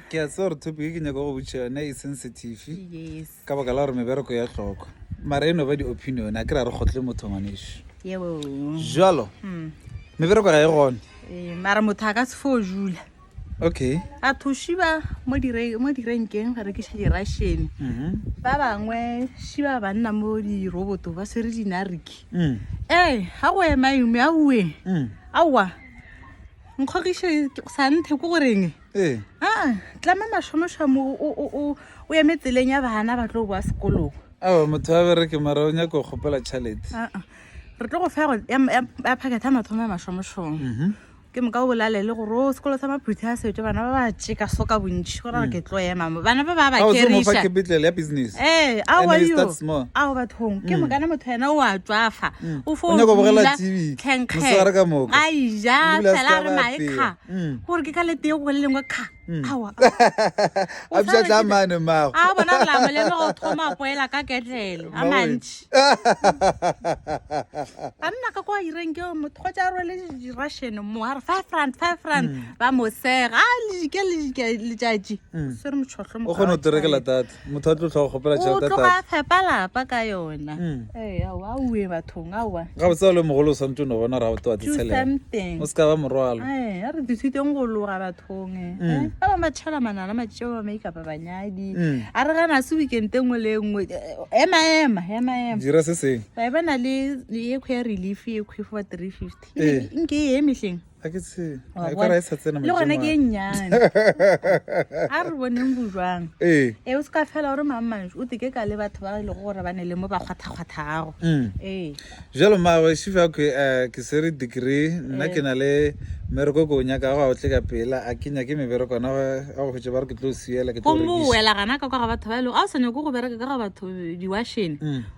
ke a tseba gore topic e ke nyaka go botša yone e sensitive ka baka la gore mebereko ya tlhokwa mara e no ba di-opinion a ke ra re kgotle motho ngwaneso jalo hmm. mebereko ga e gone ee, mara motho a ka se fo jula okay a thoshiba mo direnkeng re ke dirashene mhm. ba bangwe shiba ba nna mo diroboto ba swere dinariki mm. ee ga go ema eme a uwe mm. aowa nkgogiše santhe ko goreng ee. a tlama mašomošomo o eme tseleng ya bana ba tlo boa sekolong ao motho a bereke mara o nyako kgopela tšhalete re tlo go fa go ya packet a mathomo ya mašomošomo mhm. ke moka o bolalele gore o sekolo sa maphuthi a setswe bana ba ba tšeka so ka bontšhi gore re ke tlo ema mo bana ba ba ba keriša ee aoaio ao bathong ke mm. mokana motho ena o a tswafa o fo nyaka bogela tv mosegare ka moka ga ija fela re mae kha gore ke ka le tee go le lengwe kha awa a bja tla mane mago a bona re la mo le go thoma poela ka ketlele a mantsi a nna ka kwa ireng ke motho go tsa rwele di russian mo ha re 5 rand 5 rand ba mo sega a le ke le ke le tšatši se re motlhotlho mo o kgona go trekela tata motho a tlo tlhoga kgopela tšhelete tloga a fepa lapa ka yona hmm. ee aowa aowe bathong aowa ga botse le mogolo o swantse o ne bona ra bote wa tsetsheleng o se ka ba morwalo ee a re thusitseng go loga bathong e hmm. eh, ba bangwe ba tšhela manala matšeo ba maikapa banyadi hmm. a re gana se weekend e nngwe le e nngwe eh, ema ema ema ema dira se seng ba e bana le ekgwe ya relief ekgwe for three fifty ee. nke e emetleng ga ke tsebe Wa e ka ra e sa tsena bona? le gona majemong ke e a- nnyane a re boneng bojwang ee e o se ka fela gore mammanso o teke ka le batho ba e lego gore ba ne le mo ba kgwathakgwathago Mm. ee jalo mawe shifa ke eh, ke sere degree nna ke na le mmereko ko o nyaka go a o tle ka pela a ke nyake mebereko ona a go hwetše ba re ke tlo o siela ke tlo o gomme o rekiša wela gana ka kwa ga batho ba e lego a o sa nyako go bereka ka ga batho diwashene Mm.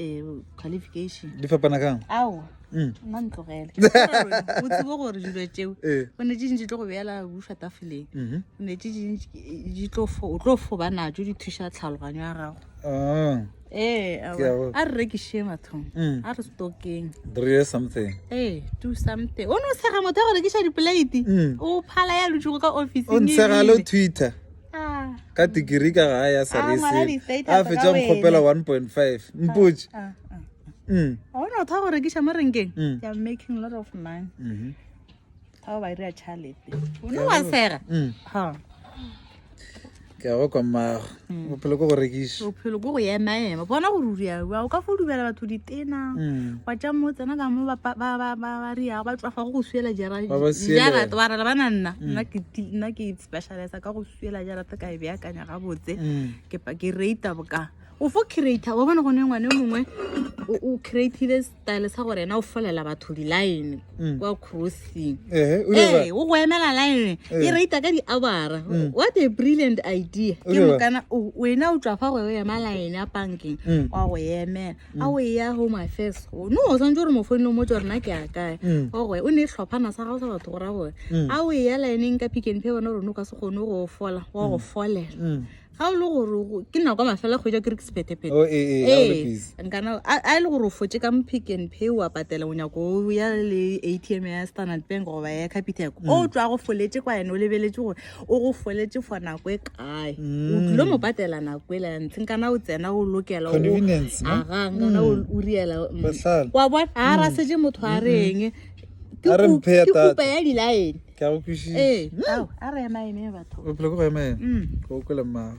um qualification di fapana kang ao Mm. nna ntlogele o tsebo gore dilo tšeo Eh. o ne tše dintši tlo go beela bufa tafoleng Mhm. o ne tše dintši di tlo fo- o tlo foba natso di thuša tlhaloganyo ya gago Ah, ee Ke a go- a re rekišeng bathong Mm. a re stokeng drie something ee do something o ne o sega motho ya go rekiša dipolaete Mm. o phala ya lotšego ka o officing ntshegale o ebile. twitter ka digiri ka ga ya sarese a fetša nkgopela 1.5 mpotse ona o tha go rekiša mo renkeng making lot of money ao ba ira chalete o ne wa sega ke ya go kwa mmago mm. bophelo ko go rekiša bophelo ko go emaema bona gore o riaua o ka fo dubela batho ditena mm. wa tša mo tsena ka mo ba riago ba tswafa go go suela jarata ba rela bana nna mm. nna ke specialize ka go swela jara ka e beakanya gabotse mm. ke pa ke rate boka o fo creator wa bona go ne ngwane mongwe o creatile style sa gore ena o folela batho di-line mm. kwa crossing ee eh, o go emela line e rata ka di-abara mm. what a brilliant idea ke mokana wena o tswa fa gore o ema line ya bankeng wa go emela mm. a o e ya home affairs o no o santse gore mo founile mo tswa rena ke a kae mm. o gwe o ne e tlhophana sa gago sa batho go ra gore mm. a o e ya laeneng ka pick and pay bona gore no ka se kgone go fola wa go folela ga o le gore ke nako ya mafela kgwedi ya kere ke sephetephete oh, ee eh, eh, eh, e nkana a e le gore o fotse ka mpick and pay wa patela o nyako o ya le a t m ya standard bank goba ya capitec o tswa go foletse kwa ene o lebeletse gore o go foletše for nako e kae o tlilo mo patela nako e la ntleng kana o tsena o lokela agang kana o riela wa bona ga ra setse motho a reng ke kupa ya dilaene ke a go kwišiša ee a re ema eme batho bophelo ke go ema ema ke o kwele mmago